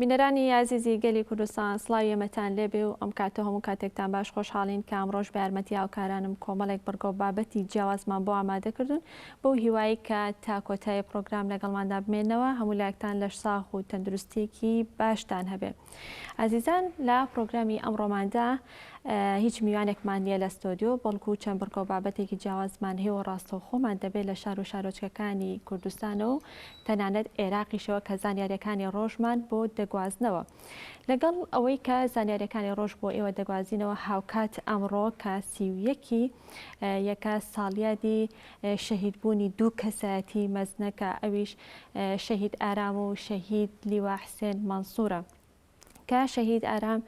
بینەرانی یازیزی گەلی کوردستان سڵاو یەمەتان لێبێ و ئەم کاتە هەموو کاتێکتان باش خۆشحاڵین کە ئەمڕۆژ بارمەتی هاوکارانم کۆمەڵێک بڕگۆ بابەتی جیاوازمان بۆ ئامادەکردون بەو هیوایەی کە تا کۆتایی پڕۆگرام لەگەڵماندا بمێنەوە هەموو لایەکتان لەش ساغ و تەندروستیەکی باشتان هەبێ ئازیزان لە پڕۆگرامی ئەمڕۆماندا هیچ میوانێکمان نیە لە ستۆدیۆ بەڵکو چەند بڕگەو بابەتێکی جیاوازمان هەیە و ڕاستەوخۆمان دەبێت لە شار و شارۆچکەکانی کوردستانە و تەنانەت عێراقیشەوە کە زانیاریەکانی ڕۆژمان بۆ دەگوازنەوە لەگەڵ ئەوەی کە زانیاریەکانی ڕۆژ بۆ ئێوە دەگوازینەوە هاوکات ئەمڕۆ کە سیویەکی یەکە ساڵیادی شەهید بوونی دوو کەسایەتی مەزنە کە ئەویش شەهید ئارام و شەهید لیوا حسێن مەنسورە کە شەهید ئارام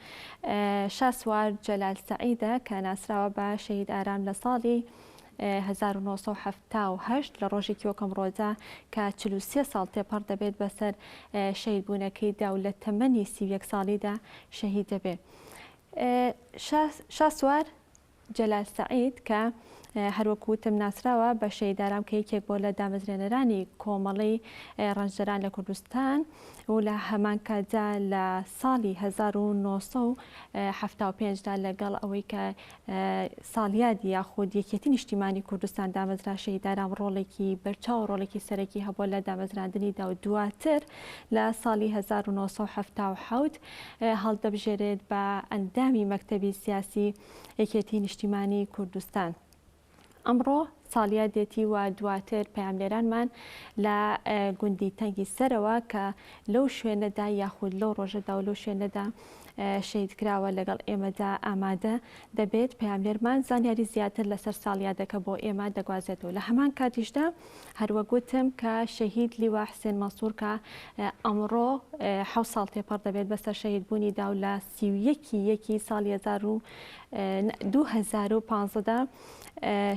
شاسوار جەلال سەعیدە کە ناسراوە بە شەهید ئارام لە ساڵی 1970 لە ڕۆژێکی وەکەم ڕۆدا کە 43 ساڵ تێپەڕ دەبێت بەسەر شەید بوونەکەیدا و لە تەمەنی سی یەک ساڵیدا شەهید دەبێت شاسوار جەلال سەعید کە هەروەک وتم ناسراوە بە شەهید ئارام کە یەکێک بۆ لە دامەزرێنەرانی کۆمەڵی ڕەنجدەران لە کوردستان و لە هەمان کاتدا لە ساڵی 1975 دا لەگەڵ ئەوەی کە ساڵیادی یاخود یەکێتی نیشتیمانی کوردستان دامەزرا شەهید ئارام ڕۆڵێکی بەرچاو ڕۆڵێکی سەرەکی هەبووە لە دامەزراندنیدا و دواتر لە ساڵی 1970 هەڵدەبژێرێت بە ئەندامی مەکتەبی سیاسی یەکێتی نیشتیمانی کوردستان. ئەمڕۆ ساڵیادێتی و دواتر پەیامنێرانمان لە گوندی تەنگی سەرەوە کە لەو شوێنەدا یاخود لەو ڕۆژەدا و لەو شوێنەدا شەید کراوە لەگەڵ ئێمەدا ئامادە دەبێت پەیامنێرمان زانیاری زیاتر لەسەر ساڵیادەکە بۆ ئێمە دەگوازێتەوە لە هەمان کاتیشدا هەروەک وتم کە شەهید لیوا حسێن مەسوور کە ئەمڕۆ حەوت ساڵ تێپەڕ دەبێت بەسەر شەهید بوونی دا و لە سی و یەکی یەکی ساڵی هەزار و دوو هەزار و پانزەدا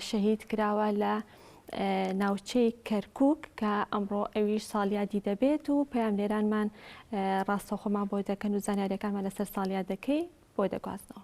شەهید کراوە لە ناوچەی کەرکک کە ئەمڕۆ ئەویش ساڵیادی دەبێت و پەیام لێرانمان ڕاستەخۆمان بۆ دەکەن و زانیارەکانمان لەسەر ساڵیادەکەی بۆ دەگوازنەوە.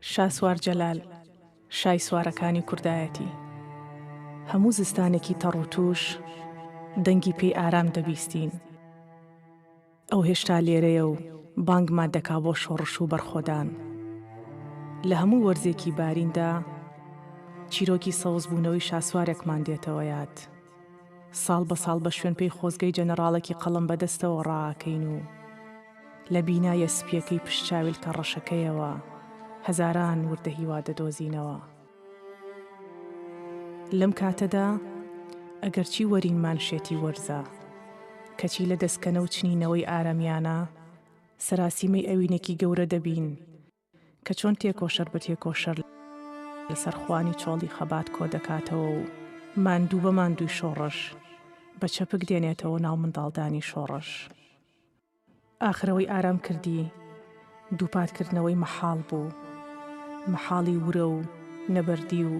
شاسوار جەلال، شای سوارەکانی کوردایەتی. هەموو زستانێکی تەڕ و تووش، دەنگی پێی ئارام دەبیستین. ئەو هێشتا لێرەیە و بانگمان دەکا بۆ شۆڕش و بەرخۆدان. لە هەموو وەرزێکی باریندا، چیرۆکی سەوزبوونەوەی شاسوارێکمان دێتەوە یاد. ساڵ بە ساڵ بە شوێنپێی خۆزگەی جەنەڕاڵێکی قەڵەم بە دەستەوە ڕائەکەین و لە بینایە سپییەکەی پشت چاویلکە ڕەشەکەیەوە هەزاران وردە هیوا دەدۆزینەوە. لەم کاتەدا ئەگەرچی وەرین مانشێتی وەرزە، کەچی لە دەسکەنە و چنینەوەی ئارەمیانە سەراسیمەی ئەوینێکی گەورە دەبین، کە چۆن تێکۆشەر بە تێکۆشەر لەسەر خوانی چۆڵی خەبات کۆ دەکاتەوە و ماندوو بە ماندووی شۆڕش بە چەپک دێنێتەوە ناو منداڵدانی شۆڕش. ئاخر ئەوەی ئارام کردی دووپات کردنەوەی مەحاڵ بوو، مەحاڵی ورە و نەبەردی و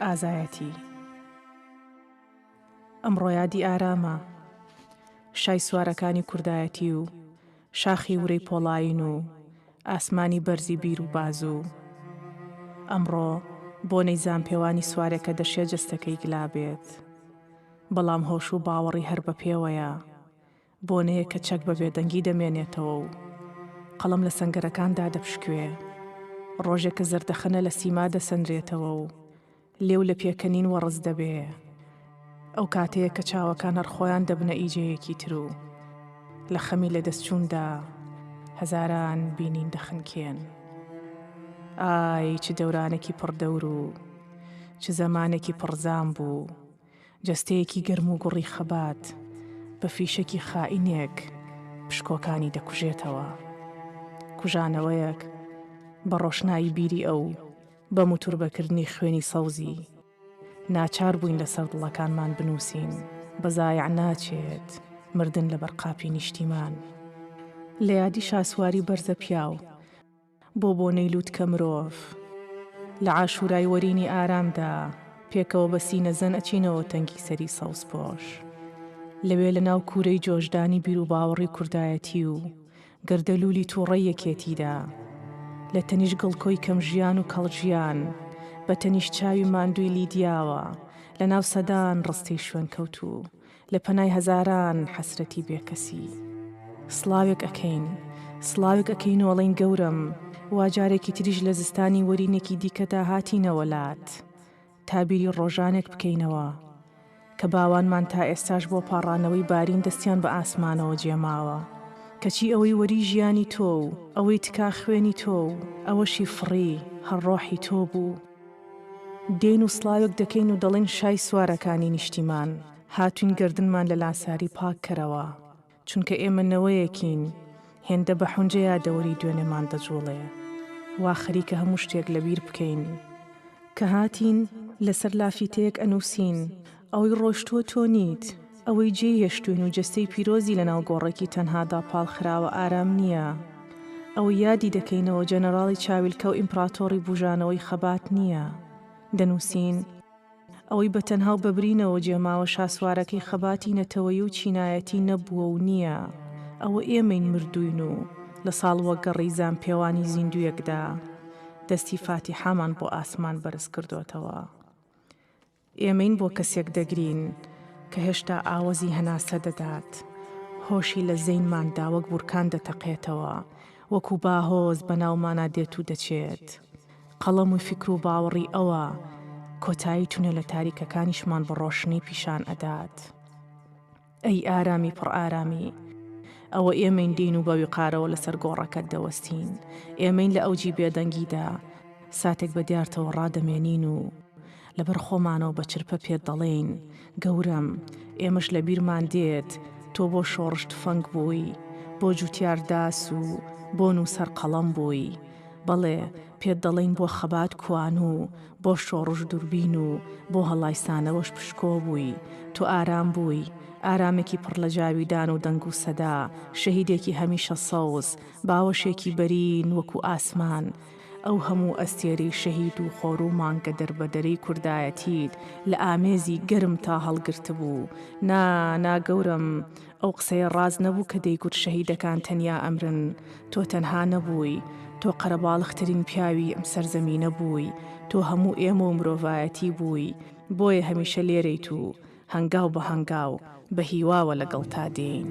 ئازایەتی. ئەمڕۆ یادی ئارامە شای سوارەکانی کوردایەتی و شاخی ورەی پۆڵایین و ئاسمانی بەرزی بیر و بازو ئەمڕۆ بۆنەی زامپێوانی سوارێکە دەشێ جەستەکەی گلابێت بەڵام هۆش و باوەڕی هەر بە پێوەیە بۆنەیەک کە چەک بە بێدەنگی دەمێنێتەوە و قەڵەم لە سەنگەرەکان دادەپشکوێ، ڕۆژێک کە زەردەخەنە لە سیما دەسەنرێتەوە و لێو لە پێکەنین وەڕس دەبێ، ئەو کاتەیە کە چاوەکان هەر خۆیان دەبنە ئیجەیەکی تر و لە خەمی لەدەستچووندا هەزاران بینین دەخنکێن. ئای چ دەورانێکی پڕ دەور و چ زەمانێکی پڕ زام بوو! جەستەیەکی گەرم و گوڕی خەبات بە فیشەکی خائینێک پشکۆکانی دەکوژێتەوە. کوژانەوەیەک بە ڕۆشنایی بیری ئەو، بە موتوربەکردنی خوێنی سەوزی، ناچار بووین لەسەر دڵەکانمان بنووسین، بە زایع ناچێت، مردن لەبەر قاپی نیشتیمان. لە یادی شاسواری بەرزەپیاو. بۆ بۆنەی لووتکە مرۆڤ لە عاشورای وەرینی ئارامدا پێکەوە بە سینە زەن ئەچینەوە تەنگی سەری سەوزپۆش لەوێ لە ناو کوورەی جۆشدانی بیروباوەڕی کوردایەتی و گەردەلوولی تووڕەی یەکێتیدا لە تەنیشت گڵکۆی کەم ژیان و کەڵ ژیان بە تەنیشت چاوی ماندووی لیدیاوە لە ناو سەدان ڕستەی شوێنکەوتوو لە پەنای هەزاران حەسرەتی بێکەسی سڵاوێک ئەکەین سڵاوێک ئەکەین و ئەڵێین گەورەم وا جارێکی تریش لە زستانی وەرینێکی دیکەدا هاتینەوە لات تا بیری ڕۆژانێک بکەینەوە کە باوانمان تا ئێستاش بۆ پاڕانەوەی بارین دەستیان بە ئاسمانەوە جێماوە کەچی ئەوەی وەری ژیانی تۆ و ئەوەی تکا خوێنی تۆ و ئەوەشی فڕی هەر ڕۆحی تۆ بوو. دێین و سڵاوێک دەکەین و دەڵێین شای سوارەکانی نیشتیمان، هاتووین گەردنمان لە لاساری پاک کەرەوە، چونکە ئێمە نەوەیەکین هێندە بە حونجە یادەوەری دوێنێمان دەجووڵێ، وا خەریکە هەموو شتێک لەبیر بکەین. کە هاتین، لەسەر لافیتەیەک ئەنووسین، ئەوەی ڕۆشتووە تۆ نیت. ئەوەی جێی هێشتووین و جەستەی پیرۆزی لەناو گۆڕێکی تەنهادا پاڵ خراوە ئارام نییە. ئەوەی یادی دەکەینەوە جەنەراڵی چاویلکە و ئیمپڕاتۆڕی بووژانەوەی خەبات نییە. دەنووسین. ئەوەی بە تەنها و بە برینەوە جێ ماوە شاسوارەکەی خەباتی نەتەوەیی و چینایەتی نەبووە و نییە. ئەوە ئێمەین مردووین و لە ساڵوەگەڕی زانپێوانی زیندووێکدا دەستی فاتیحامان بۆ ئاسمان بەرز کردۆتەوە. ئێمەین بۆ کەسێک دەگرین کە هێشتا ئاوەزی هەناسە دەدات، هۆشی لە زەینماندا وەک بورکان دەتەقێتەوە، وەکو باهۆز بەناومانا دێت و دەچێت. قەڵەم و فیکر و باوەڕی ئەوە، کۆتایی تونێلە تاریکەکانیشمان بە ڕۆشنی پیشان ئەدات. ئەی ئارامی پڕ ئارامی! ئەوە ئێمەین دێین و بە ویقارەوە لەسەر گۆڕەکەت دەوەستین، ئێمەین لە ئەوجی بێدەنگیدا ساتێک بە دیارتەوە ڕادەمێنین و لەبەر خۆمانەوە بە چرپە پێت دەڵێین، گەورەم، ئێمەش لە بیرمان دێت تۆ بۆ شۆڕش تفەنگ بووی، بۆ جووتیار داس و بۆ نووسەر قەڵەم بووی، بەڵێ، پێت دەڵێین بۆ خەبات کوانوو، بۆ شۆڕش دووربین و بۆ هەڵایسانەوەش پشکۆ بووی، تۆ ئارام بووی، ئارامێکی پڕ لە جاویدان و دەنگ و سەدا، شەهیدێکی هەمیشە سەوز، باوەشێکی بەرین وەکوو ئاسمان، ئەو هەموو ئەستێرەی شەهید و خۆر و مانگە دەربەدەرەی کوردایەتیت لە ئامێزی گەرمتا هەڵگرتبوو، نا، نا گەورەم، ئەو قسەیە ڕاست نەبوو کە دەیگوت شەهیدەکان تەنیا ئەمرن، تۆ تەنها نەبووی، تۆ قەرەباڵغترین پیاوی ئەم سەرزەمینە بووی، تۆ هەموو ئێمە و مرۆڤایەتی بووی، بۆیە هەمیشە لێرەیت و هەنگاو بە هەنگاو بە هیواوە لەگەڵتا دێین.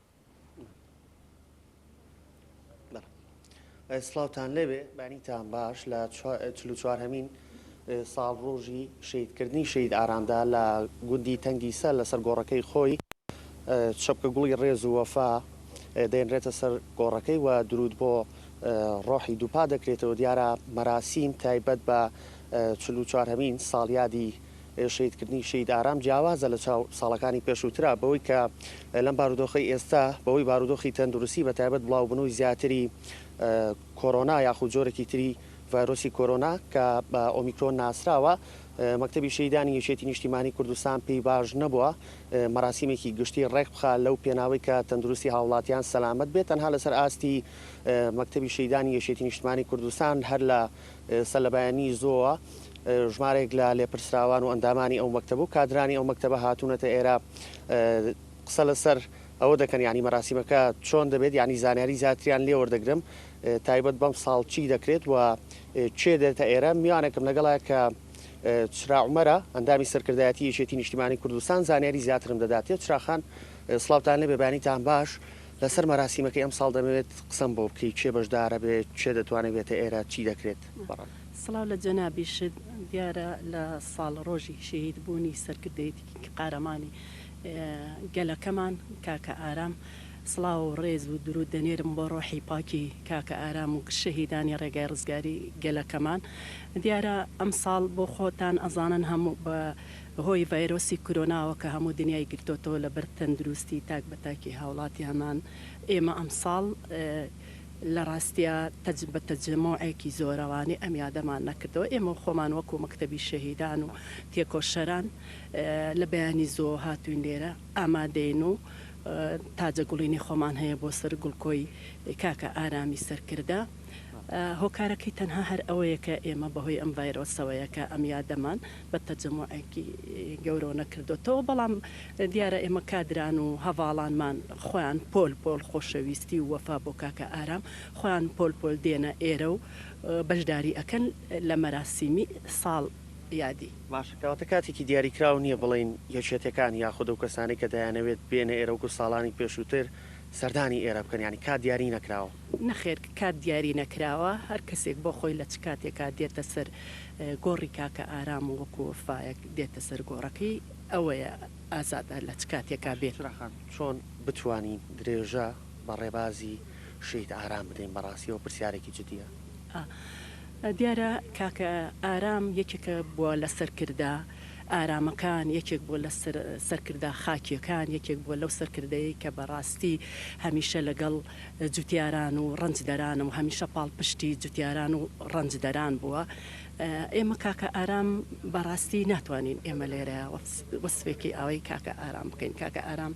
سڵاوتان لێبێ بانیتان باش لە چوارهمین ساڵ ڕۆژی شیدکردنی شید ئارامدا لە گوندی تەنگی سەر لەسەر گۆڕەکەی خۆی چەپکە گوڵی ڕێز و وەفا دەێنرێتە سەر گۆڕەکەی و درود بۆ ڕۆحی دووپا دەکرێتەوە دیارە مەراسیم تایبەت بە چهمین ساڵیادی شەهیدکردنی شەهید ئارام جیاوازە لە چاو ساڵەکانی پێشووترا بەوەی کە لەم بارودۆخەی ئێستا بەوەی بارودۆخی تەندروستی بە تایبەت بڵاوبونەوەی زیاتری کۆرۆنا یاخود جۆرێکی تری ڤایرۆسی کۆرۆنا کە بە ئۆمیکرۆن ناسراوە مەکتەبی شەیدانی یەکێتی نیشتیمانی کوردستان پێی باش نەبووە مەراسیمێکی گشتی ڕێک بخا لەو پێناوەی کە تەندروستی هاوڵاتیان سەلامت بێت تەنها لەسەر ئاستی مەکتەبی شەیدانی یەکێتی نیشتمانی کوردستان هەر لە ئێستا لە بەیانی زۆوە ژمارێک لە لێپرسراوان و ئەندامانی ئەو مەکتەب و کادرانی ئەو مەکتەبە هاتوونەتە ئێرە قسە لەسەر ئەوە دەکەن یعنی مەراسیمەکە چۆن دەبێت یعنی زانیاری زیاتریان لێ وەردەگرم تایبەت بەم ساڵ چی دەکرێت و چێ دێتە ئێرە میوانێکم لەگەڵە کە چرا عمەرە ئەندامی سەرکردایەتی یەکێتی نیشتیمانی کوردستان زانیاری زیاترم دەداتێ چراخان سلااوان لێ بێبانی تان باش لەسەر مەراسیمەکەی ئەمساڵ دەمەوێت قسەم بۆ بکەی کێ بەشدارەبێت کێ دەتوانێت بێتە ئێرە چی دەکرێت بەڕێز. سڵاو لە جەنابیشت، دیارە لە ساڵ ڕۆژی شەهید بوونی سەرکردەیەتیکی قارەمانی گەلەکەمان کاکە ئارام سڵاو و ڕێز و دروود دەنێرم بۆ ڕۆحی پاکی کاکە ئارام و شەهیدانی ڕێگای ڕزگاری گەلەکەمان دیارە ئەمساڵ بۆ خۆتان ئەزانن هەموو بە هۆی ڤایرۆسی کرۆناوە کە هەموو دنیای گرتۆتەوە لەبەر تەندروستی تاک بە تاکی هاوڵاتیانمان ئێمە ئەمساڵ لە راستیا تەج بە تەجەمۆعێکی زۆرەوانی ئەم یادەمان نەکردەوە ئێمە خۆمان وەکو مەکتەبی شەهیدان و تێکۆشەران لە بەیانی زوو هاتوین لێرە ئامادەین و تاجە گوڵینی خۆمان هەیە بۆ سەر گوڵکۆی کاکە ئارامی سەرکردە هۆکارەکەی تەنها هەر ئەوەیە کە ئێمە بەهۆی ئەم ڤایرۆسەوەیە کە ئەم یادەمان بە تەجەموعێکی گەورەوە نەکردۆتەوە، بەڵام دیارە ئێمە کادران و هەڤاڵانمان خۆیان پۆل پۆل خۆشەویستی و وەفا بۆ کاکە ئارام خۆیان پۆل پۆل دێنە ئێرە و بەشداری ئەکەن لە مەراسیمی ساڵ یادی. باشە کەواتە کاتێکی دیاریکراو نییە بڵێین یەکێتیەکان یاخود ئەو کەسانەی کە دەیانەوێت بێنە ئێرە وەکو ساڵانی پێشووتر سەردانی ئێرە بکەن یانی کات دیاری نەکراوە؟ نەخێر کات دیاری نەکراوە هەر کەسێک بۆ خۆی لە چ کاتێکا دێتە سەر گۆڕی کاکە ئارام و وەکو وەفایەک دێتە سەر گۆڕەکەی ئەوەیە ئازادە لە چ کاتێکا بێ. بوشرا خان چۆن بتوانین درێژە بە ڕێبازی شەهید ئارام بدەین بەڕاستی ئەوە پرسیارێکی جدیە. ئا دیارە کاکە ئارام یەکێکە بوە لە سەرکردە. ئارامەکان، یەکێک بووە لە سەرکردە خاکییەکان، یەکێک بووە لەو سەرکردەی کە بە ڕاستی هەمیشە لەگەڵ جوتیاران و ڕەنجدەرانە و هەمیشە پاڵپشتی جوتیاران و ڕەنجدەران بووە. ئێمە کاکە ئارام بە ڕاستی ناتوانین ئێمە لێرە وەسفێکی ئاوەی کاکە ئارام بکەین. کاکە ئارام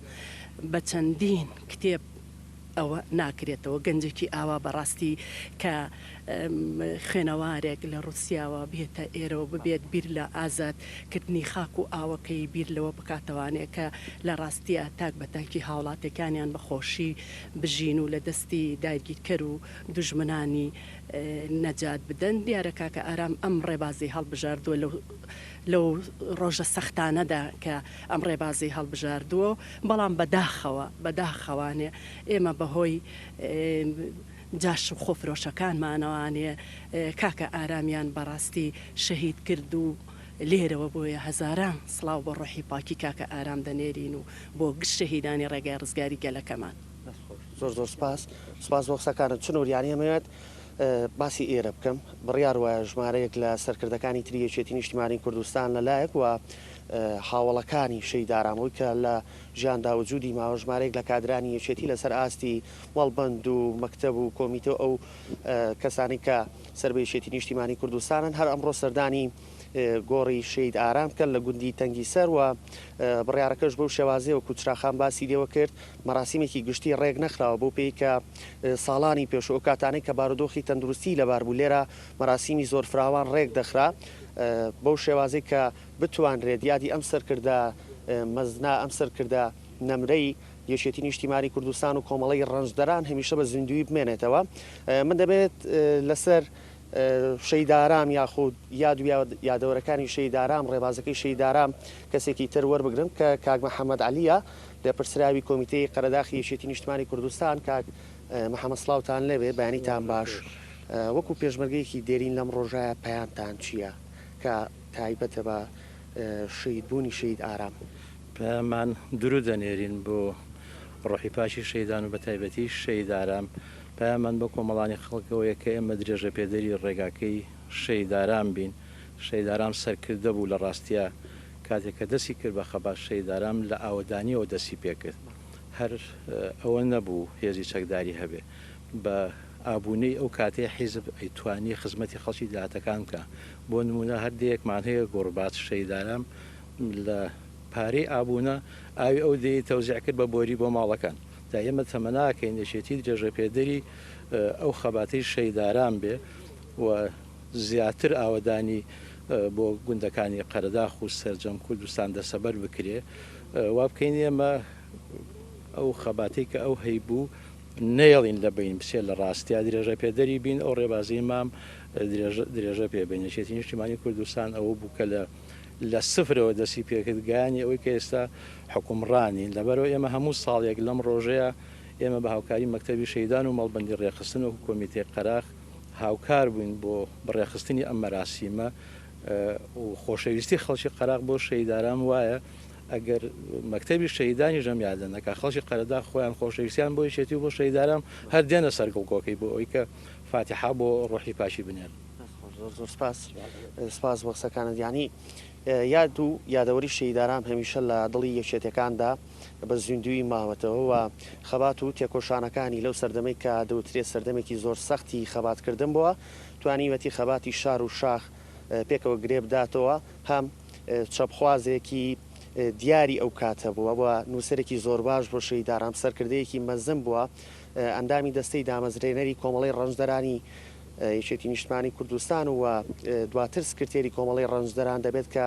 بە چەندین کتێب، ئەوە ناکرێتەوە گەنجێکی ئاوا بەڕاستی کە خوێنەوارێک لە ڕوسیاوە بێتە ئێرەوە ببێت بیر لە ئازاد کردنی خاک و ئاوەکەی بیر لەوە بکاتەوانێ کە لە ڕاستیا تاک بە تاکی هاوڵاتێکانیان بە خۆشی بژین و لە دەستی داگیرکەر و دوژمنانی نەجات بدەن دیارە کاکە ئارام ئەم ڕێبازی هەڵبژاردوە لەو ڕۆژە سەختانەدا کە ئەم ڕێبازەی هەڵبژاردووە، بەڵام بە داخەوە، بە داخەوانێ ئێمە بە هۆی جاش و خۆفرۆشەکانمانەوانێ کاکە ئارامیان بە ڕاستی شەهید کرد و لێرەوە بۆیە هەزاران سڵاو بۆ ڕۆحی پاکی کاکە ئارام دەنێرین و بۆ گشت شەهیدانی ڕێگای ڕزگاری گەلەکەمان. دەست خۆش. زۆر زۆر سپاس. سپاس بۆ قسەکانت. چ نوریانی ئەمەوێت باسی ئێرە بکەم، بڕیار وایە ژمارەیەک لە سەرکردەکانی تری یەکێتی نیشتیمانی کوردستان لە لایەک و هاوەڵەکانی شەید ئارامەوەی کە لە ژیاندا وجودی ماوە ژمارەیەک لە کادرانی یەکێتی لەسەر ئاستی مەڵبەند و مەکتەب و کۆمیتە و ئەو کەسانی کە سەر بە یەکێتی نیشتیمانی کوردستانن هەر ئەمڕۆ سەردانی گۆڕی شەید ئارام کەن لە گوندی تەنگی سەر و بڕیارەکەش بەو شێوازەیە وەکو چراخان باسی لێوە کرد مەراسیمێکی گشتی ڕێک نەخراوە بۆ پێی کە ساڵانی پێش و ئەوکاتانەی کە بارودۆخی تەندروستیی لەبار بوو لێرە مەراسیمی زۆر فراوان ڕێک دەخرا بەو شێوازەی کە بتوانرێت یادی ئەم سەرکردە مەزنە، ئەم سەرکردە نەمرەی یەکێتی نیشتیمانی کوردستان و کۆمەڵەی ڕەنجدەران هەمیشە بە زیندوویی بمێنێتەوە. من دەمەوێت لەسەر شەهید ئارام یاخود یاد و یادەوەرەکانی شەهید ئارام، ڕێبازەکەی شەهید ئارام کەسێکی تر وەربگرم کە کاک محەممەد عەلییە لێپرسراوی کۆمیتەی قەرەداخی یەکێتی نیشتمانی کوردستان کاک محمد سڵاوتان لێبێ بەیانیتان باش وەکو پێشمەرگەیەکی دێرین لەم ڕۆژایە پەیامتان چیە کە تایبەتە بە شەید بوونی شەید ئارام. پەیاممان درود دەنێرین بۆ ڕۆحی پاکی شەیدان و بەتایبەتی شەید ئارام پەیاممان بۆ کۆمەڵانی خەڵکەوەیە کە ئێمە درێژە پێدەری ڕێگاکەی شەید ئارام بین شەید ئارام سەرکردە بوو لە ڕاستیا کاتێک کە دەستی کرد بە خەبات شەهید ئارام لە ئاوەدانییەوە دەستی پێ کرد. هەر ئەوە نەبوو هێزی چەکداری هەبێ. بە ئابوونەی ئەو کاتەی حیزب ئەیتوانی خزمەتی خەڵکی دێهاتەکان بکا. بۆ نموونە هەر دێیەکمان هەیە گۆڕباچ شەهید ئارام لە پارەی ئابوونە ئاوی ئەو دێیەی تەوزیع کرد بە بۆری بۆ ماڵەکان. جا ئێمە تەمەناکەین یەکێتی درێژەپێدەری ئەو خەباتەی شەهید ئارام بێ. و زیاتر ئاوەدانی بۆ گوندەکانی قەرەداخ و سەرجەم کوردستان دەسەبەر بکرێ وا بکەین ئێمە ئەو خەباتەی کە ئەو هەیبوو نەیەڵین لە بین بچێت لە ڕاستیا درێژە پێدەری بین ئەو ڕێبازی مام درێژە پێ بین نشێتی نیشتیمانی کوردستان ئەوە بوو کە لە لە سفرەوە دەسی پێکرد گایانی ئەوەی کە ئێستا حکومڕانین لەبەرەوە ئێمە هەموو ساڵێک لەم ڕۆژەیە ئێمە بە هاوکاری مەکتتەبی شەیدان و مەڵبندی ڕێخستن و کۆمیتەی قەراخ هاوکار بووین بۆ بەڕێخستنی ئەم مەراسیمە و خۆشەویستی خەڵکی قەراق بۆ شەیداران وایە ئەگەر مەکتتەبی شەیدانیش ئەم یادە نەکە خەڵکی قەرەدا خۆیان خۆشەویستیان بۆی شێتی بۆ شەیداران هەر دێنە سەرگڵکۆکەی بۆ ئەوی کە فاتحا بۆ ڕۆحی پاشی بنێن زۆر سپاس سپاس بۆ قسەکانت یانی یاد و یادەوەری شەیداران هەمیشە لە دڵی یەکێتەکاندا بە زیندوویی ماوەتەوە و خەبات و تێکۆشانەکانی لەو سەردەمەی کە دەوترێ سەردەمێکی زۆر سەختی خەباتکردن بووە، توانیویەتی خەباتی شار و شاخ پێکەوە گرێ بداتەوە، هەم چەپخوازێکی دیاری ئەو کاتە بووە و نووسەرێکی زۆر باش بووە، شەهید ئارام سەرکردەیەکی مەزن بووە، ئەندامی دەستەی دامەزرێنەری کۆمەڵەی ڕەنجدەرانی یەکێتی نیشتمانی کوردستان و دواتر سکرتێری کۆمەڵەی ڕەنجدەران دەبێت کە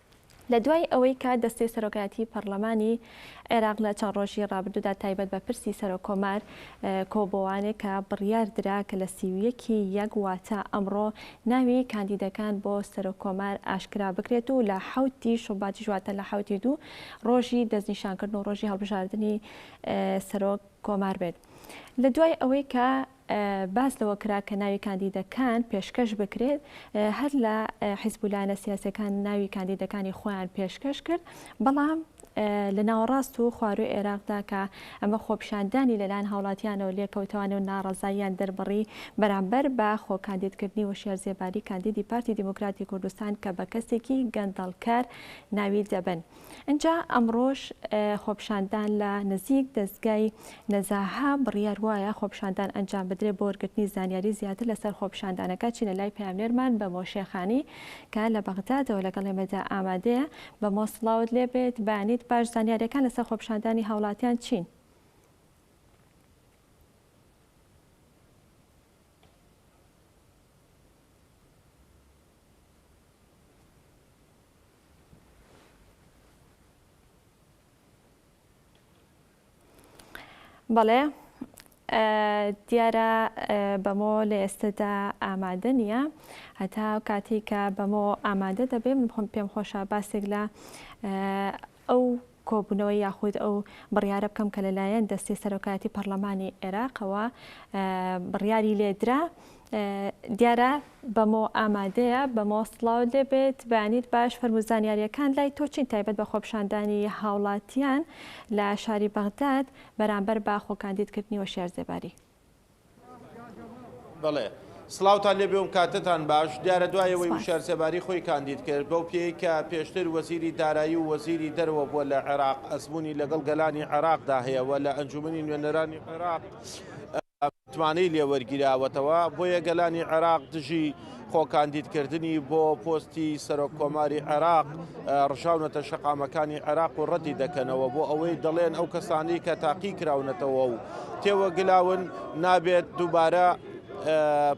لە دوای ئەوەی کە دەستەی سەرۆکایەتیی پەڕڵەمانی عێراق لە چەند ڕۆژی ڕابردوودا تایبەت بە پرسی سەرۆککۆمار کۆبۆوانێ کە بڕیار درا کە لە سی و یەک ی یەک واتە ئەمڕۆ ناوی کاندیدەکان بۆ سەرۆککۆمار ئاشکرا بکرێت و لە حەوت ی شوباتیش واتە لە حەوت ی دوو ڕۆژی دەستنیشانکردن و ڕۆژی هەڵبژاردنی سەرۆک کۆمار بێت لە دوای ئەوەی کە باس لەوە کرا کە ناوی کاندیدەکان پێشکەش بکرێت، هەر لە حیزب و لایەنە سیاسییەکان ناوی کاندیدەکانی خۆیان پێشکەش کرد، بەڵام لە ناوەڕاست و خوارووی عێراقدا کە ئەمە خۆپیشاندانی لەلایەن هاوڵاتیانەوە لێکەوتەوانە و ناڕەزاییان دەربڕی بەرامبەر بە خۆ کاندیدکردنی هۆشیار زێباری کاندیدی پارتی دیموکراتی کوردستان کە بە کەسێکی گەندەڵکەر ناوی دەبەن. ئینجا ئەمڕۆش خۆپیشاندان لە نزیک دەزگای نەزاهە، بڕیار وایە خۆپیشاندان ئەنجام بدرێت بۆ وەرگرتنی زانیاری زیاتر لەسەر خۆپیشاندانەکە چینە لای پەیامنێرمان بەمۆ شێخانی کە لە بەغدادەوە لەگەڵ ئێمەدا ئامادەیە بەمۆ سڵاوت لێ بێت بەیانیت باش زانیاریەکان لەسەر خۆپیشاندانی هاوڵاتیان چین؟ بەڵێ دیارە بەمۆ لە ئێستەدا ئامادە نییە هەتا کاتی کە بەمۆ ئامادە دەبێ من خۆم پێم خۆشە باسێک لە ئەو کۆبوونەوە یاخود ئەو بڕیارە بکەم کە لەلایەن دەستەی سەرۆکایەتی پەڕلەمانی عێراقەوە بڕیاری لێدرا دیارە بەمۆ ئامادەیە بەمۆ سڵاو لێبێت بەیانیت باش فەرموزانیاریەکان لای تۆچین تایبەت بە خۆپشاندانی هاوڵاتیان لە شاری بەغداد بەرامبەر بە خۆکاندیدکردنی وەشار زێباری بەڵێ سڵاوتان لێبێ و کاتتان باش دیارە دوای ئەوەی سپاس. وشار سێباری خۆی کاندید کرد بەو پێی کە پێشتر وەزیری دارایی و وەزیری دەرەوە بووە لە عێراق ئەزموونی لەگەڵ گەلانی عێراقدا هەیە و لە ئەنجوومەنی نوێنەرانی عێراق متمانەی لێ وەرگیراوەتەوە بۆیە گەلانی عێراق دژی خۆ کاندیدکردنی بۆ پۆستی سەرۆک کۆماری عێراق ڕژاونەتە شەقامەکانی عێراق و ڕەتی دەکەنەوە بۆ ئەوەی دەڵێن ئەو کەسانی کە تاقی کراونەتەوە و تێوەگلاون نابێت دووبارە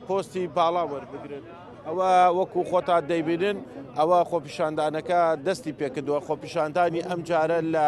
پۆستی باڵا وەربگرن. ئەوە وەکو خۆتان دەیبینن ئەوە خۆپیشاندانەکە دەستی پێکردووە خۆپیشاندانی ئەم جارە لە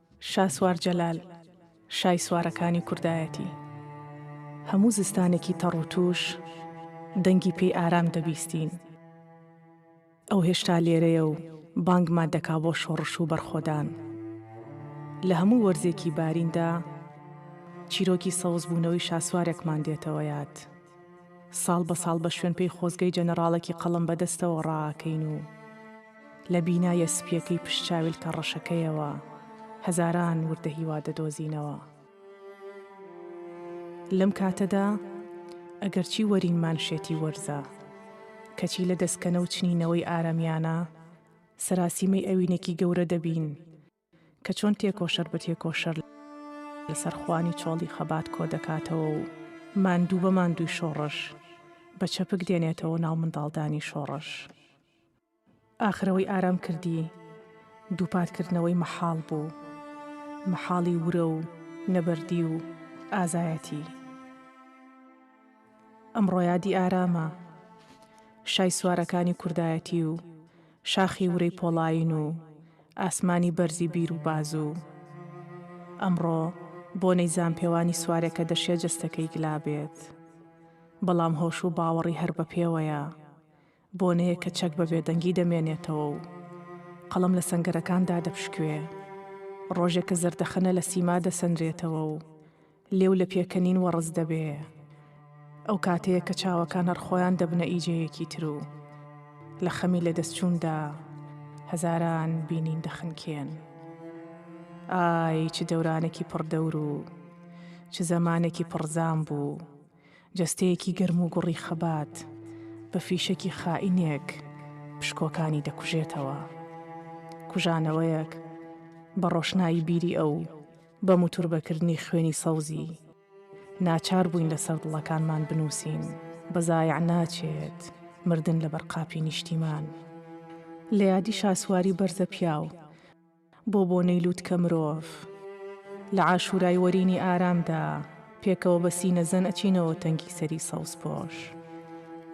شاسوار جەلال، شای سوارەکانی کوردایەتی. هەموو زستانێکی تەڕ و تووش، دەنگی پێی ئارام دەبیستین. ئەو هێشتا لێرەیە و بانگمان دەکا بۆ شۆڕش و بەرخۆدان. لە هەموو وەرزێکی باریندا، چیرۆکی سەوزبوونەوەی شاسوارێکمان دێتەوە یاد. ساڵ بە ساڵ بە شوێنپێی خۆزگەی جەنەڕاڵێکی قەڵەم بە دەستەوە ڕائەکەین و لە بینایە سپییەکەی پشت چاویلکە ڕەشەکەیەوە هەزاران وردە هیوا دەدۆزینەوە. لەم کاتەدا ئەگەرچی وەرینمان شێتی وەرزە، کەچی لە دەستکەنە و چنینەوەی ئارەمیانە سەراسیمەی ئەوینێکی گەورە دەبین، کە چۆن تێکۆشەر بە تێکۆشەر لەسەر خوانی چۆڵی خەبات کۆ دەکاتەوە و ماندوو بە ماندووی شۆڕش بە چەپک دێنێتەوە ناو منداڵدانی شۆڕش. ئاخر ئەوەی ئارام کردی دووپات کردنەوەی مەحاڵ بوو، مەحاڵی ورە و نەبەردی و ئازایەتی. ئەمڕۆ یادی ئارامە شای سوارەکانی کوردایەتی و شاخی ورەی پۆڵایین و ئاسمانی بەرزی بیر و بازو ئەمڕۆ بۆنەی زامپێوانی سوارێکە دەشێ جەستەکەی گلا بێت بەڵام هۆش و باوەڕی هەر بە پێوەیە بۆنەیەک کە چەک بە بێدەنگی دەمێنێتەوە و قەڵەم لە سەنگەرەکان دادەپشکوێ، ڕۆژێک کە زەردەخەنە لە سیما دەسەنرێتەوە و لێو لە پێکەنین وەڕس دەبێ، ئەو کاتەیە کە چاوەکان هەر خۆیان دەبنە ئیجەیەکی تر و لە خەمی لەدەستچووندا هەزاران بینین دەخنکێن. ئای چ دەورانێکی پڕ دەور و چ زەمانێکی پڕ زام بوو! جەستەیەکی گەرم و گوڕی خەبات بە فیشەکی خائینێک پشکۆکانی دەکوژێتەوە. کوژانەوەیەک بە ڕۆشنایی بیری ئەو، بە موتوربەکردنی خوێنی سەوزی، ناچار بووین لەسەر دڵەکانمان بنووسین، بە زایع ناچێت، مردن لەبەر قاپی نیشتیمان. لە یادی شاسواری بەرزەپیاو، بۆ بۆنەی لووتکە مرۆڤ لە عاشورای وەرینی ئارامدا پێکەوە بە سینە زەن ئەچینەوە تەنگی سەری سەوزپۆش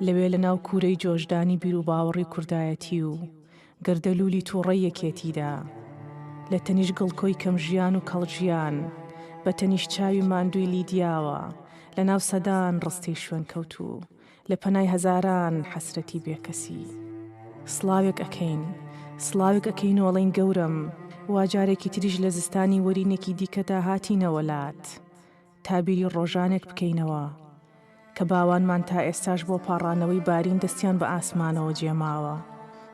لەوێ لە ناو کوورەی جۆشدانی بیروباوەڕی کوردایەتی و گەردەلوولی تووڕەی یەکێتیدا لە تەنیشت گڵکۆی کەم ژیان و کەڵ ژیان بە تەنیشت چاوی ماندووی لیدیاوە لە ناو سەدان ڕستەی شوێنکەوتوو لە پەنای هەزاران حەسرەتی بێکەسی سڵاوێک ئەکەین سڵاوێک ئەکەین و ئەڵێین گەورەم وا جارێکی تریش لە زستانی وەرینێکی دیکەدا هاتینەوە لات تا بیری ڕۆژانێک بکەینەوە کە باوانمان تا ئێستاش بۆ پاڕانەوەی بارین دەستیان بە ئاسمانەوە جێماوە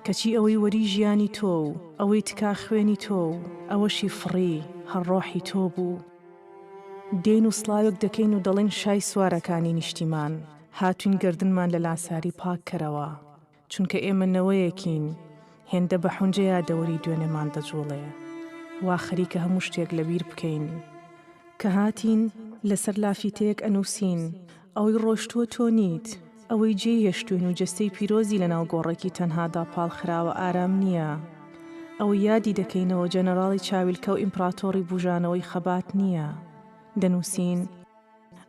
کەچی ئەوەی وەری ژیانی تۆ و ئەوەی تکا خوێنی تۆ و ئەوەشی فڕی هەر ڕۆحی تۆ بوو. دێین و سڵاوێک دەکەین و دەڵێین شای سوارەکانی نیشتیمان، هاتووین گەردنمان لە لاساری پاک کەرەوە، چونکە ئێمە نەوەیەکین هێندە بە حونجە یادەوەری دوێنێمان دەجووڵێ، وا خەریکە هەموو شتێک لە بیر بکەین. کە هاتین، لە سەر لافیتەیەک ئەنووسین، ئەوەی ڕۆشتووە تۆ نیت، ئەوەی جێی هێشتووین و جەستەی پیرۆزی لەناو گۆڕێکی تەنهادا پاڵخراوە ئارام نییە. ئەوەی یادی دەکەینەوە جەنەراڵی چاویلکە و ئیمپراتۆڕی بووژانەوەی خەبات نییە. دەنووسین،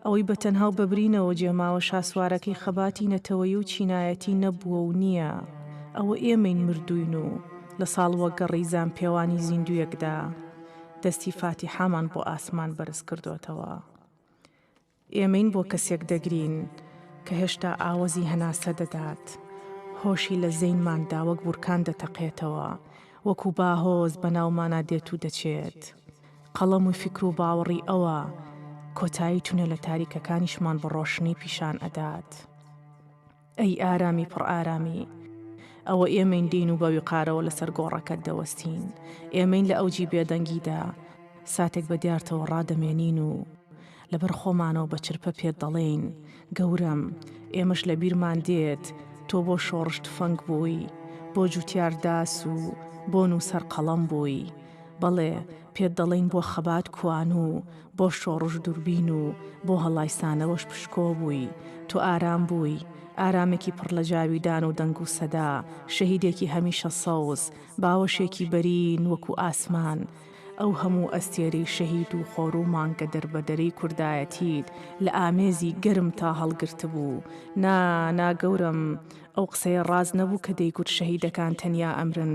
ئەوەی بە تەنها و بە برینەوە جێماوە شاسوارەکەی خەباتی نەتەوەیی و چینایەتی نەبووە و نییە. ئەوە ئێمەین مردووین و لە ساڵوەگەڕی زامپێوانی زیندووێکدا دەستی فاتیحامان بۆ ئاسمان بەرز کردۆتەوە. ئێمەین بۆ کەسێک دەگرین کە هێشتا ئاوەزی هەناسە دەدات، هۆشی لە زەینماندا وەک بورکان دەتەقێتەوە، وەکو باهۆز بەناومانا دێت و دەچێت. قەڵەم و فیکر و باوەڕی ئەوە، کۆتایی تونێلە تاریکەکانیشمان بە ڕۆشنی پیشان ئەدات. ئەی ئارامی پڕ ئارامی! ئەوە ئێمەین دێین و بە ویقارەوە لەسەر گۆڕەکەت دەوەستین، ئێمەین لە ئەوجی بێدەنگیدا ساتێک بە دیارتەوە ڕادەمێنین و لەبەر خۆمانەوە بە چرپە پێت دەڵێین، گەورەم، ئێمەش لە بیرمان دێت تۆ بۆ شۆڕش تفەنگ بووی، بۆ جووتیار داس و بۆ نووسەر قەڵەم بووی، بەڵێ، پێت دەڵێین بۆ خەبات کوانوو، بۆ شۆڕش دووربین و بۆ هەڵایسانەوەش پشکۆ بووی، تۆ ئارام بووی، ئارامێکی پڕ لە جاویدان و دەنگ و سەدا، شەهیدێکی هەمیشە سەوز، باوەشێکی بەرین وەکوو ئاسمان، ئەو هەموو ئەستێرەی شەهید و خۆر و مانگە دەربەدەرەی کوردایەتیت لە ئامێزی گەرمتا هەڵگرتبوو، نا، نا گەورەم، ئەو قسەیە ڕاست نەبوو کە دەیگوت شەهیدەکان تەنیا ئەمرن،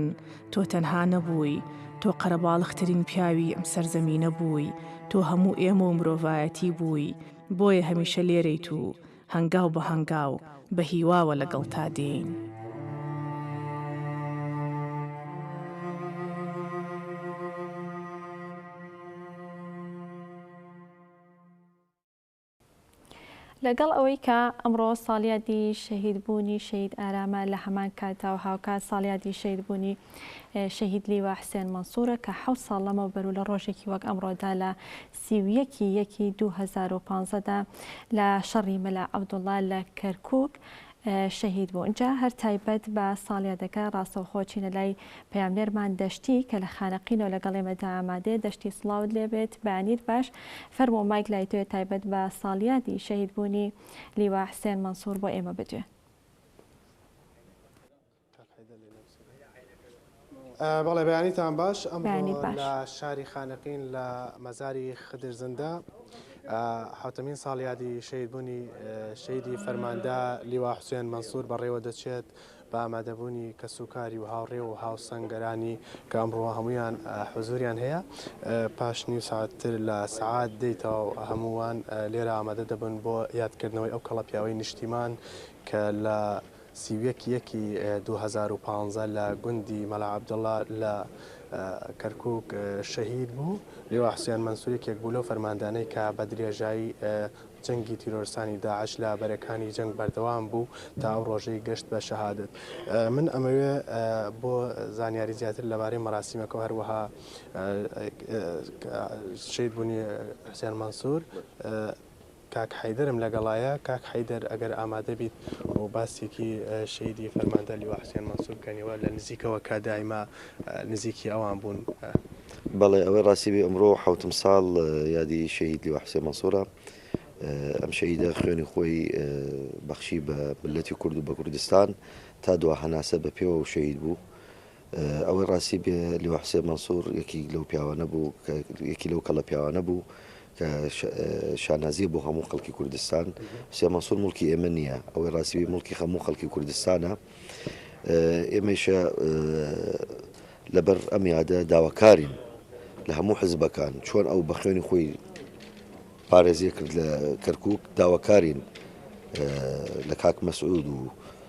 تۆ تەنها نەبووی، تۆ قەرەباڵغترین پیاوی ئەم سەرزەمینە بووی، تۆ هەموو ئێمە و مرۆڤایەتی بووی، بۆیە هەمیشە لێرەیت و هەنگاو بە هەنگاو بە هیواوە لەگەڵتا دێین. لەگەڵ ئەوەی کە ئەمڕۆ ساڵیادی شەهیدبوونی شەهید ئارامە لە هەمان کاتدا و هاوکات ساڵیادی شەهیدبوونی شەهید لیوا حسێن مەنسوورە کە حەوت ساڵ لەمەو بەرو لە ڕۆژێکی وەک ئەمڕۆدا لە سی و یەکی یەکی دوو هەزار و پانزە دا لە شەڕی مەلا عەبدوڵڵا لە کەرکووک شەهید بوو جا هەر تایبەت بە ساڵیادەکە ڕاستەوخۆ چینە لای پەیامنێرمان دەشتی کە لە خانەقینەوە لەگەڵ ئێمەدا ئامادەیە دەشتی سڵاوت لێ بێت بەیانیت باش فەرموو مایک لای تۆیە تایبەت بە ساڵیادی شەهید بوونی لیوا حسێن مەنسوور بۆ ئێمە بدوێ. بەڵێ بەیانیتان باش ئەمڕۆ لە شاری خانەقین لە مەزاری خدر زندە حوتەمین ساڵیادی شەیدبوونی شەیدی فەرماندە لیوا حوسێن مەسوور بەڕێوە دەچێت بە ئامادەبوونی کەس و کاری و هاوڕێ و هاوسەنگەرانی کە ئەمڕۆ هەمویان حزوریان هەیە پاش نیو ساعتتر لە سعات دەیتەوە هەمووان لێرە ئامادە دەبن بۆ یادکردنەوەی ئەو کەڵە پیاوەی نیشتیمان کە لە سی و یەک یەکی دوو هەزار و پازدە لە گوندی مەلا عەبدوڵا لە کەرکووک شەهید بوو. لیوا حوسێن مەنسوور یەکێک بوو لەو فەرماندانەی کە بە درێژایی جەنگی تیرۆرستانی داعش لە بەرەکانی جەنگ بەردەوام بوو تا ئەو ڕۆژەی گەشت بە شەهادەت. من ئەمەوێ بۆ زانیاری زیاتر لەبارەی مەراسیمەکە و هەروەها شەهیدبوونی حوسێن مەنسوور، کاک حەیدەرم لەگەڵایە. کاک حەیدەر ئەگەر ئامادە بیت و باسێکی شەهیدی فەرماندە لیوا حوسێن مەنسور بکەنیوە لە نزیکەوە کە دایمە نزیکی ئەوان بوون. بەڵێ ئەوەی ڕاستی بێ ئەمڕۆ حەوتم ساڵ یادی شەهید لیوا حوسێن مەنسورە. ئەم شەهیدە خوێنی خۆی بەخشی بە مللەتی کورد و بە کوردستان تا دوا هەناسە بە پێوە و شەهید بوو. ئەوەی ڕاستی بێ لیوا حوسێن مەنسوور یەکیک لەو پیاوانە بوو کە یەکی لەو کەڵە پیاوانە بوو کە شانازیە بۆ هەموو خەڵکی کوردستان حوسێن مەنسوور مڵکی ئێمە نییە ئەوەی ڕاستیوی مڵکی هەموو خەڵکی کوردستانە ئێمەشە لەبەر ئەم یادە داواکارین لە هەموو حزبەکان چۆن ئەو بە خوێنی خۆی پارێزیە کرد لە کەرکک داواکارین لە کاک مەسعود و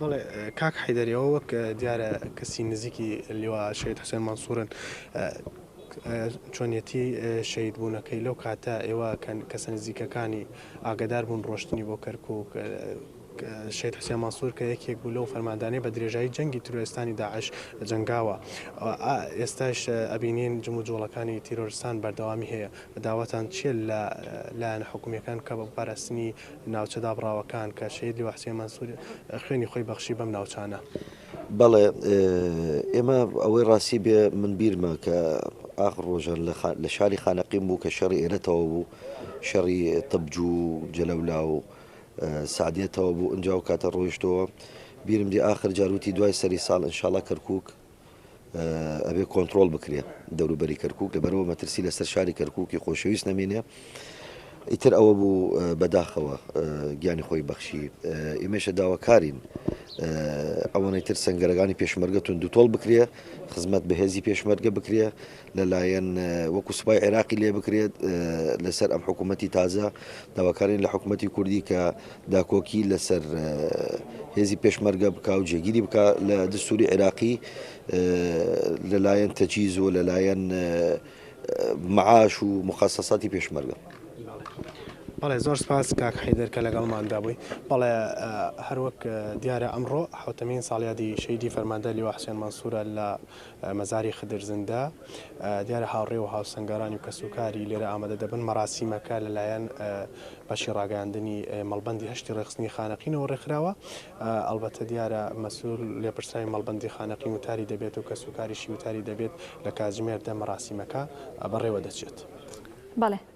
بەڵێ کاک حیدەری ئەوە وەک دیارە کەسی نزیکی لیوا شەید حسێن مەنسوورن چۆنیەتی شەید بوونەکەی لەو کاتە ئێوە کەسە نزیکەکانی ئاگدار بوون ڕۆشتنی بۆ کەرکک شێت حسێن مەسوور کە یەکێک بوو لەو فەرماندانەی بە درێژایی جەنگی تروێستانی داعش جنگاوە ئێستاش ئەبینین جم و جۆڵەکانی تیرۆرستان بەردەوامی هەیە داواتان چیە لە لایەن حکومیەکان کە بە پاراستنی ناوچە دابڕاوەکان کە شەهید لیوا حوسێن مەنسوور خوێنی خۆی بەخشی بەم ناوچانە. بەڵێ ئێمە ئەوەی ڕاستی بێ من بیرمە کە ئاخ ڕۆژە لە شاری خانەقیم بوو کە شەڕی ئێرەتەوە بوو شەڕی تەبجوو جەلەولا و سعدێتەوە بوو ئەجا و کاتە ڕۆیشتەوە بیرم دی ئاخر جاروتی دوای سەری ساڵ ئەنشاڵا کەرکک ئەبێ کۆنتترۆل بکرێت دەوروبەری کەرکک لەبەرەوە مەترسی لەسەر شاری کەرککی خۆشەویست نەمێنێ ئیتر ئەوە بوو بەداخەوە گیانی خۆی بەخشی ئێمەشە داواکارین ئەوەنەی تر سنگەرەکانی پێشمەرگەتون دوتۆڵ بکرێ خزمەت بەهێزی پێشمەرگە بکرێ لەلایەن وەکو سوپای عێراقی لێ بکرێت لەسەر ئەم حکوومەتتی تازە داواکارین لە حکوومەتتی کوردی کە داکۆکی لەسەر هێزی پێشمەرگە بک و جێگیری بک لە دەستوری عێراقی لەلایەن تەچیز و لەلایەن معاش و مخصصاتی پێشمەرگە. بەڵێ زۆر سپاس کاک حیدر کە لەگەڵماندا بووی بەڵێ هەروەک دیارە ئەمڕۆ حوتەمین ساڵیادی شەیدی فەرماندە لیوا حسێن مەسوورە لە مەزاری خدر زندە، دیارە هاوڕێ و هاوسەنگەرانی و کەسوکاری لێرە ئامادە دەبن، مەراسیمەکە لەلایەن بەشی ڕاگەیاندنی مەڵبەندی هەشتی ڕێکخستنی خانەقینەوە ڕێکخراوە، ئەڵبەتە دیارە مەسول لێپرسراوی مەڵبەندی خانەقین وتاری دەبێت و کەسوکاریشی وتاری دەبێت، لە کاتژمێر دە مەراسیمەکە بەڕێوەدەچێت. بەڵێ.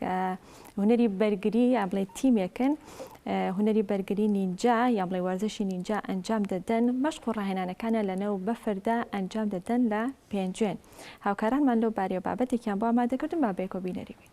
کە هونەری بەرگری یا بڵێ تیمێکن هونەری بەرگری نینجا یا بڵێ وەرزشی نینجا ئەنجام دەدەن مەشق و ڕاهێنانەکانە لەنەو بەفردا ئەنجام دەدەن لە پێنجوێن هاوکارانمان لەو بارەیە بابەتێکیان بۆ ئامادەکردن با بێکۆ بینەری بین.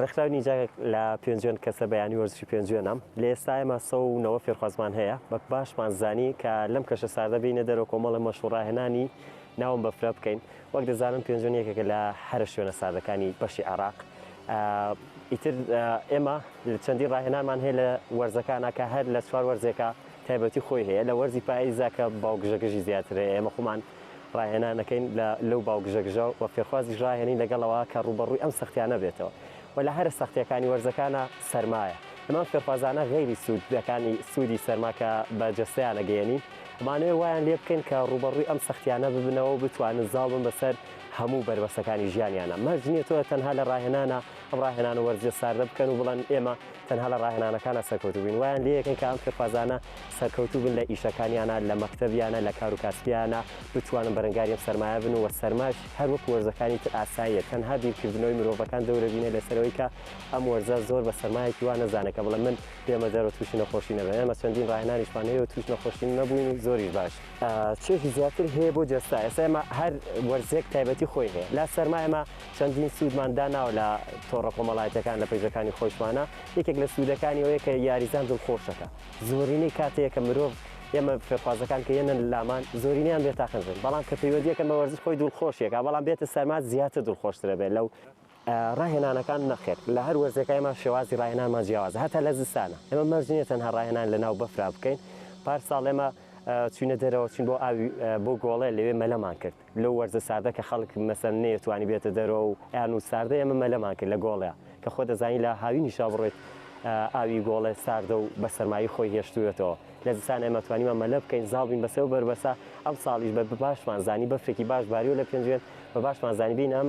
ڕێکخراوی نیجاک لە پێنجوێن کەسە بەیانی وەرزشی پێنجوێنە لە ئێستا ئێمە سە و نەوە فێرخوازمان هەیە بە باشمان زانی کە لەم کەشە ساردە بینە دەرەوە کۆمەڵە مەشوڕاهێنانی ناوم بەفرە بکەین وەک دەزانن پێنجۆن یەکێکە لە هەرە شوێنە ساردەکانی بەشی عێراق ئیتر ئێمە چەندی ڕاهێنانمان هەیە لە وەرزەکانە کە هەر لە چوار وەرزێکە تایبەتی خۆی هەیە لە وەرزی پاییزا کە باوگژەگژی زیاترە ئێمە خۆمان ڕاهێنانەکەین لە لەو باوگژەگژە و فێرخوازیش ڕاهێنین لەگەڵەوە کە ڕوبەڕووی ئەم سەختیانە بێتەوە و لە هەرە سەختیەکانی وەرزەکانە سەرمایە ئەمان فێرخوازانە غەیری سوودەکانی سوودی سەرماکە بە جەستەیانە گەیەنین ئەمانەوێت وایان لێ بکەین کە ڕووبەڕووی ئەم سەختییانە ببنەوە و بتوانن زاڵ بن بەسەر هەموو بەربەستەکانی ژیانیانە. مەرج نییە تۆ تەنها لە ڕاهێنانە ئەم ڕاهێنان و وەرزشە ساردە بکەن و بڵێن ئێمە تەنها لە ڕاهێنانەکانە سەرکەوتوو بووین. وایان لێ یەکەن کە ئەم فێرخوازانە سەرکەوتوو بن لە ئیشەکانیانە، لە مەکتەبیانە، لە کار و کاسبیانە، بتوانن بەرەنگاری ئەم سەرمایە بن و سەرماش هەر وەکو وەرزەکانی تر ئاساییە. تەنها بیرکردنەوەی مرۆڤەکان دەورە بینە لەسەر ئەوەی کە ئەم وەرزە زۆر بە سەرمایەکی وا نەزانن کە بڵێن من ئێمە زەرۆ تووشی نەخۆشی نەبێ ئێمە چەندین ڕاهێنانیشمان هەیە و تووش نەخۆشی نەبووین و زۆریش باش چێژی زیاتر هەیە بۆ جەستە ئێستا ئێمە هەر وەرزێک تایبەتی خۆی هەیە لا سەرما ئێمە چەندین سوودمان داناوە لە تۆڕە کۆمەڵایەتەکان لە پەیجەکانی خۆشمانە یەکێک لە سوودەکانی ئەوەیە کە یاریزان دڵخۆشەکە زۆرینەی کاتەیە کە مرۆڤ ئێمە فێرخوازەکان کە یەنە لامان زۆرینیان بێتاقەزن بەڵام کە پەیوەندیەکەن بە وەرزش خۆی دڵخۆشیەکە بەڵام بێتە سەرما زیاتر دڵخۆشترە بێت لەو ڕاهێنانەکان، نەخێر، لە هەر وەرزێکا ئێمە شێوازی ڕاهێنانمان جیاوازە، هەتا لە زستانا ئێمە مەرج نییە تەنها ڕاهێنان لە ناو بەفرا بکەین، پارساڵ ئێمە چووینە دەرەوە چووین بۆ ئاوی بۆ گۆڵێ لەوێ مەلەمان کرد، لەو وەرزە ساردە کە خەڵک مەسەن نەیەتوانی بێتە دەرەوە و ئەیان و ساردە ئێمە مەلەمان کرد لە گۆڵێا کە خۆ دەزانی لە هاوینیشا بڕۆیت ئاوی گۆڵێ ساردە و بە سەرمایی خۆی هێشتووێتەوە لە زستانا ئێمە توانیمان مەلە بکەین زاڵ بین بەسەر بەربەسا ئەمساڵیش بە باشمان زانی بەفرێکی باش باریوە لە پێنجوێن بە باشمان زانی بین ئەم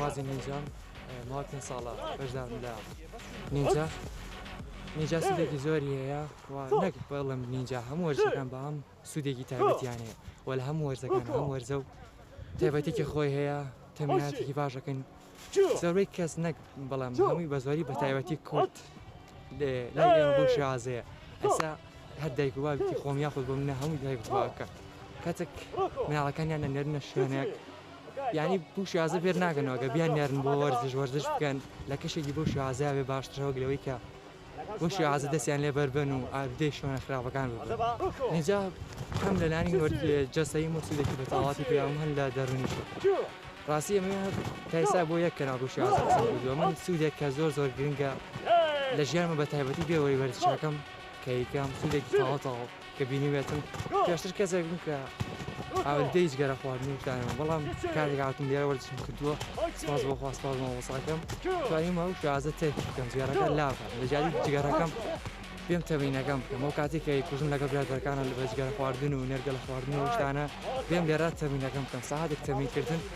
بازی نینجام ماوە پێنج ساڵە بەشدارم لە نینجا نینجا سودێکی زۆری هەیە نەک بەڵم نینجا هەموو وەرزەکان بە هەم سوودێکی تایبەتیان هەیە وە لە هەموو وەرزەکان هەم وەرزە و تایبەتێکی خۆی هەیە تەمیناتێکی باشەکەن زۆربەی کەس نەک بەڵام هەمووی بە زۆری بە تایبەتی کورد لای ئێمە بۆ شازەیە ئەسا هەر دایک و بابی خۆم یاخود بۆ منە هەموو دایک خواکە کەچک مناڵەکانیان نەنێرنە شوێنێک یعنی بوو شازە بێر ناگەنەوەگە بیان نێرن بۆ وەرزش وەرزش بکەن لە کەشێکی بۆ شازە بێ باشترەوەک لەوەی کە بۆ شێوازە دەستیان لێ بەربن و ئالودەی شوێنە خراپەکان ببن اینجا هەم لە لانی وەرت جەستەی مۆسیدێکی بە تەواتی پیاوم هەن لە دەرونیش ڕاستی ئەمە تایسا بۆ یەک کەناڵ بۆ شێوازە قسەم کردووە من سوودێک کە زۆر زۆر گرنگە لە ژیانمە بە تایبەتی بێوەی وەرزشەکەم کە یکەم سوودێکی تەواو تەواو کە بینیبێتم پێشتر کەسێک بووم کە ئاوەدەی جگەرە خواردن و شتانەوە بەڵام کاتێک هاتم لێرە وەرزشم کردووە سپاس بۆ خوا سپاس بۆ مامۆستاکەم توانیمە و شازە تێکی بکەم جگەرەکە لافە لە جیاتی جگەرەکەم پێم تەمینەکەم بکەم ئەو کاتی کە کوژم لەگەڵ برادەکانە لە بەجگەرە خواردن و نەرگەلە خواردن و شتانە پێم لێرە تەمینەکەم بکەم ساعاتێک تەمینکردن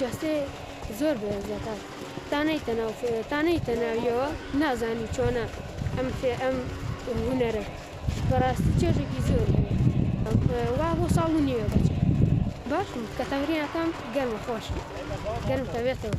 جەستەی زۆر بەهێزەکە تا نەیتە ناو فێ تا نەیتە ناویەوە نازانی چۆنە ئەم فێ ئەم هونەرە بەڕاستی چێژێکی زۆری هەیە وا بۆ ساڵ و نیوێ دەچێت باشم کە تەمرینەکەم گەرمە خۆشم گەرم تەبێتەوە.